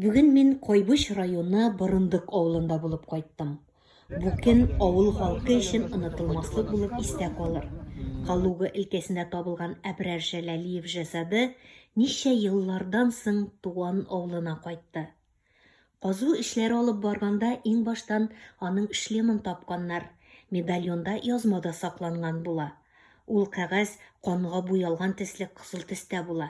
Бүген мин Кайбыч районы Борындык авылында булып кайттым. Бу көн авыл халкы өчен онытылмаслык булып истә калыр. Калуга өлкәсендә табылган Әбрар Җәләлиев җәсады ничә еллардан соң туган авылына кайтты. Казу эшләре алып барганда иң баштан аның шлемын тапканнар, медальонда язма да сакланган була. Ул кәгазь канга буялган төсле кызыл төстә була.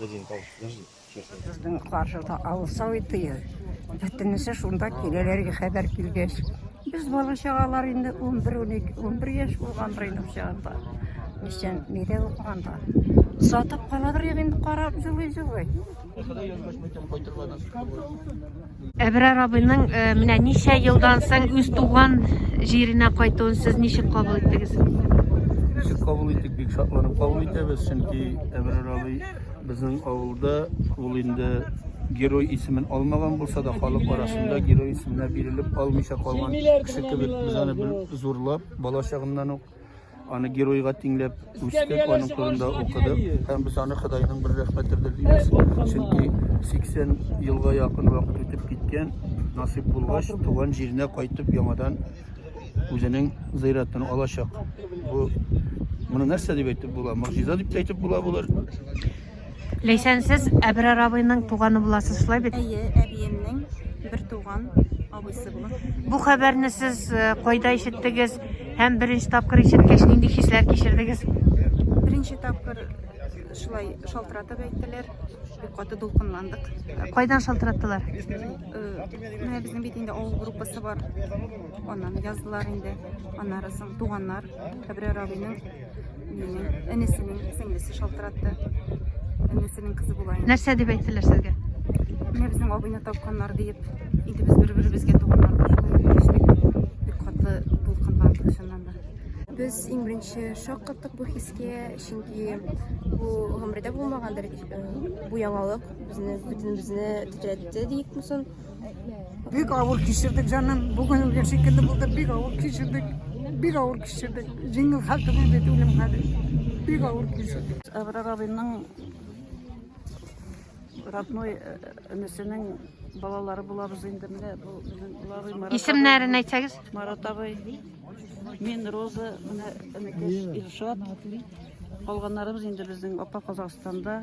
Безнең каршыда авыл Советы. Бөтенесе шунда киләләр, хәбәр килгәч. Без бала-чагалар инде 11-12, 11 яшь булгандыр инде ул чагында. Ничә, нидә укыганда. Сатып калабыр инде, карап җылый-җылый. Әбрар абыйның э, менә ничә елдан соң үз туган җиренә кайтуын сез ничек кабул иттегез? Ничек кабул иттек, бик шатланып кабул итәбез, чөнки Әбрар абый безнең авылда ул инде герой исемен алмаган булса да, халык арасында герой исеменә бирелеп алмыйча калган кеше кебек без аны зурлап, бала чагыннан ук Аны геройга тиңләп үстек, аның турында укыдык. Һәм без аны Ходайның бер рәхмәтедер дибез. Чөнки 80 елга якын вакыт үтеп киткән, насыйп булгач, туган җиренә кайтып яңадан үзенең зыйратын алачак. Бу моны нәрсә дип әйтеп була? Могҗиза дип әйтеп була булыр. Ләйсән, сез Әбрар абыйның туганы буласыз, шулай бит? Әйе, әбиемнең бер туган абыйсы була. Бу хәбәрне сез э, кайда ишеттегез һәм беренче тапкыр ишеткәч нинди хисләр кичердегез? Беренче тапкыр шулай шалтыратып әйттеләр. Бик каты дулкынландык. Кайдан шалтыраттылар? Менә безнең бит инде авыл группасы бар. Аннан яздылар инде. Аннары соң туганнар, Әбрәр абыйның Энесенең сеңлесе шалтыратты. Энесенең кызы була. Нәрсә дип әйттеләр сезгә? Менә безнең абыйны тапканнар диеп, инде без бер-беребезгә туганнар бик каты булкынландык чыннан да. Без иң беренче шок каттык бу хискә, чөнки бу гомердә булмагандыр э, бу яңалык, безне бөтенебезне тетрәтте дип мусын. Бик авыр кичердек, җаным. Бүген үлгән шикелле булды. Бик авыр кичердек. Бик авыр кичердек. Җиңел хәл түгел бит үлем хәле. Бик авыр кичердек. Әбрар абыйның родной э, энесенең балалары булабыз инде менә бу безнең Лавый Марат. Исемнәрен әйтсәгез? Марат абый. Мин Роза, менә энекәш Илшат. Калганнарыбыз инде безнең апа Казахстанда.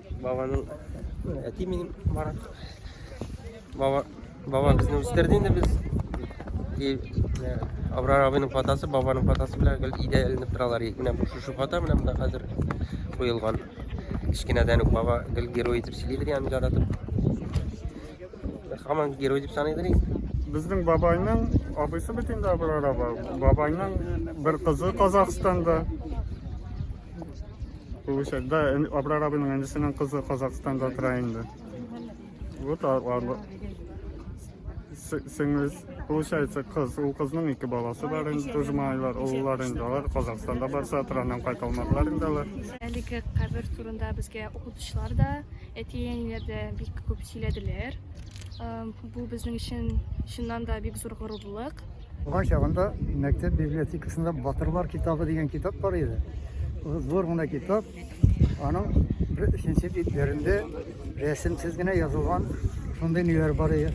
Бабаның әти минем Марат. Баба, баба безне үстерде инде без. И э, Абрар абыйның фотосы, бабаның фотосы белән гел идә эленеп торалар. Менә бу шушы фото менә монда хәзер куелган. Кечкенәдән үк баба гел герой итеп сөйлидер аны яратып. Хаман герой дип саныйдыр инде. Безнең бабайның абыйсы бит инде Абрар аба. Бабайның бер кызы Казахстанда. Получать. Да, Абрар абының әнисенең кызы Казахстанда тора инде. Вот арлы. Сеңез, получается, кыз, ул кызның ике баласы бар инде, тоже малайлар, уллар инде, алар Казахстанда барса, траннан кайта алмадылар инде алар. Әлеге кабер турында безгә укытучылар да, әти-әниләр дә бик күп сөйләделәр. Бу безнең өчен чыннан да бик зур горурлык. Туган чагында мәктәп библиотекасында Батырлар китабы дигән китап бар иде. Зур гына китап. Аның бер өченче битләрендә рәсемсез генә язылган шундый ниләр бар иде.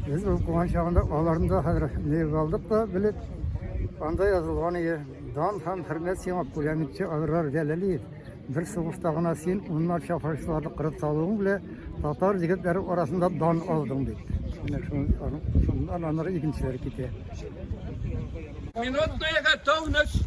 Без ул туган чагында аларны да хәзер нигез алдык та белеп, анда язылган иде. Дан һәм хөрмәт сиңа, пулеметчы Аграр Җәләлиев. Бер сугышта гына син унларча фашистларны кырып салуың белән татар егетләре арасында дан алдың бит. Менә шуннан аннары икенчеләр китә. Минутная готовность.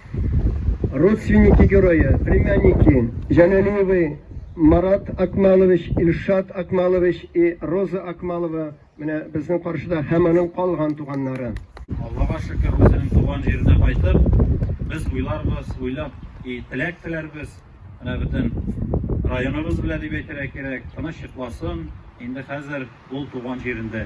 родственники герое, племянники Җәләлиевы Марат Акмалович, Илшат Акмалович и Роза Акмалова менә безнең каршыда һәм аның калган туганнары. Аллага шөкер, үзенең туган җиренә кайтып, без уйларбыз, уйлап и теләк теләрбез, менә бөтен районыбыз белән дип әйтергә кирәк, тыныч йокласын, инде хәзер ул туган җирендә.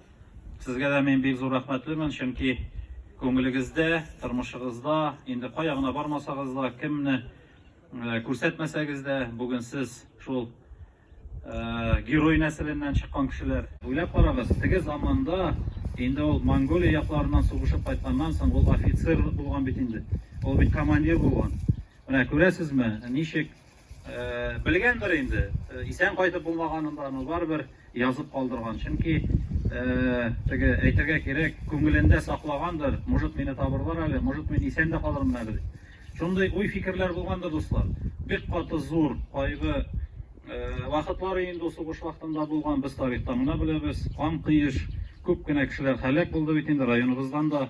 Сезгә дә мин бик зур рәхмәтлемен, чөнки күңелегездә, тормышыгызда, инде кая гына бармасагыз да, кемне э, күрсәтмәсәгез дә, бүген сез шул э, герой нәселеннән чыккан кешеләр. Уйлап карагыз, теге заманда инде ул Монголия якларыннан сугышып кайтканнан соң ул офицер булган бит инде. Ул бит командир булган. Менә күрәсезме, ничек Белгәндер инде, исән кайтып булмаганын да, но барыбер язып калдырган, чөнки теге әйтергә кирәк, күңелендә саклагандыр, может мине табырлар әле, может мин исән дә калырмын әле дип. Шундый уй-фикерләр булгандыр, дуслар. Бик каты зур кайгы вакытлары инде ул сугыш вакытында булган, без тарихтан гына беләбез, кан коеш, күп кенә кешеләр һәлак булды бит инде, районыбыздан да.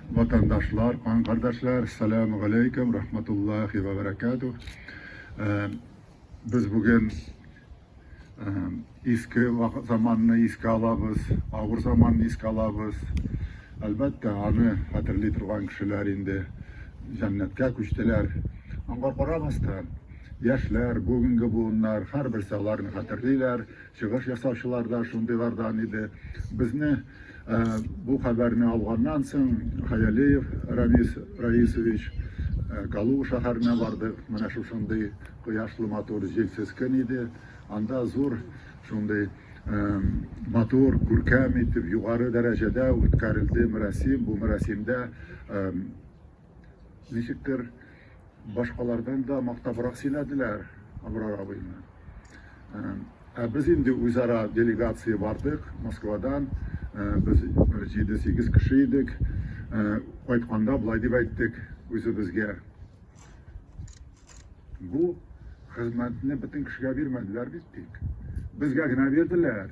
Ватандашлар, кан кардәшләр, саләмү галәйкүм, рахматуллахи вә бәрәкәтүх. Без бүген иске заманны искә алабыз, авыр заманны искә алабыз. Әлбәттә, аны хәтерли торган кешеләр инде җәннәткә күчтеләр. Аңа карамастан, яшьләр, бүгенге буыннар, һәрберсе аларны хәтерлиләр, Чыгыш ясаучылар да шундыйлардан иде. Безне бу хәбәрне алганнан соң, Хаялиев Ранис Раисович, Калуга шәһәренә бардык. Менә шушындый кояшлы матур, җилсез көн иде. Анда зур шундый матур, күркәм итеп, югары дәрәҗәдә үткәрелде мәрасим. Бу мәрасимдә Ничектер, башкалардан да мактабрак сөйләделәр Абрар абыйны. Ә без инде үзара делегация бардык Москвадан. Без бер җиде-сигез кеше идек. Кайтканда болай дип әйттек үзебезгә, Бу хезмәтне бөтен кешегә бирмәделәр бит, дик. Безгә генә бирделәр.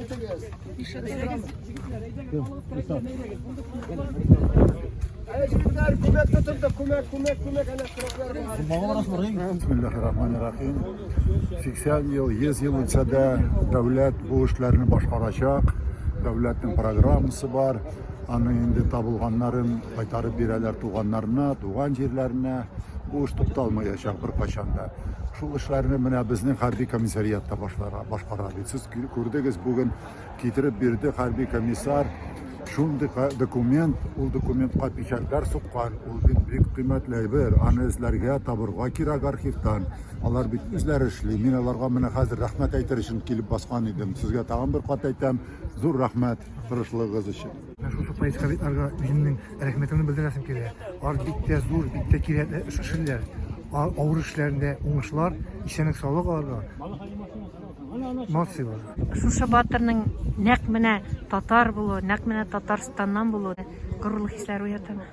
Итегез. Ишетегез. Әҗитләр күмәк тотылды, күмәк, күмәк, күмәк, әнә сроклар бар. Бисмиллахиррахманиррахим. 80 ел, 100 ел үтсә дә дәүләт бу эшләрне башкарачак. Дәүләтнең программасы бар. Аны инде табылганнарын кайтарып бирәләр туганнарына, туган җирләренә. Бу эш тукталмаячак беркайчан да. Шул эшләрне менә безнең хәрби комиссариатта башлара, башкара бит. Сез Күрдегез, бүген китереп бирде хәрби комиссар. Шундый документ, ул документка печатьләр суккан, ул бит бик кыйммәтле әйбер. Аны эзләргә, табырга кирәк архивтан. Алар бит үзләре эшли. Мин аларга менә хәзер рәхмәт әйтер өчен килеп баскан идем. Сезгә тагын бер кат әйтәм, зур рәхмәт тырышлыгыгыз өчен. Менә шушы поисковикларга үземнең рәхмәтемне белдерәсем килә. Алар бик тә зур, бик тә кирәкле эш эшлиләр. Авыр эшләрендә уңышлар, исәнлек-саулык аларга. Мосило. Шушы батырның нәкъ менә татар булуы, нәкъ менә Татарстаннан булуы горурлык хисләре уятамы?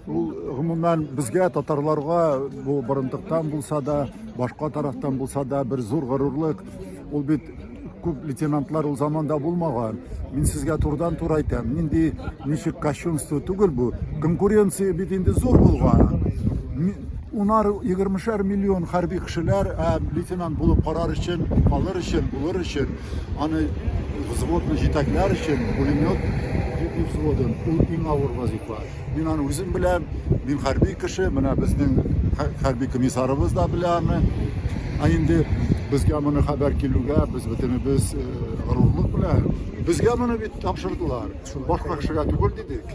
Ул гомумән безгә татарларга бу борындыктан булса да, башка тарафтан булса да бер зур горурлык. Ул бит күп лейтенантлар ул заманда булмаган. Мин сезгә турдан тур әйтәм, нинди ничек кощунство түгел бу. Конкуренция бит инде зур булган. Унар, егермешәр миллион хәрби кешеләр һәм лейтенант булып карар өчен, калыр өчен, булыр өчен, аны взводны җитәкләр өчен, пулемет взводын, ул иң авыр вазифа. Мин аны үзем беләм, мин хәрби кеше, менә безнең хәрби комиссарыбыз да белә аны. Ә инде безгә моны хәбәр килүгә без бөтенебез э, горурлык белән безгә моны бит тапшырдылар шул башка кешегә түгел дидек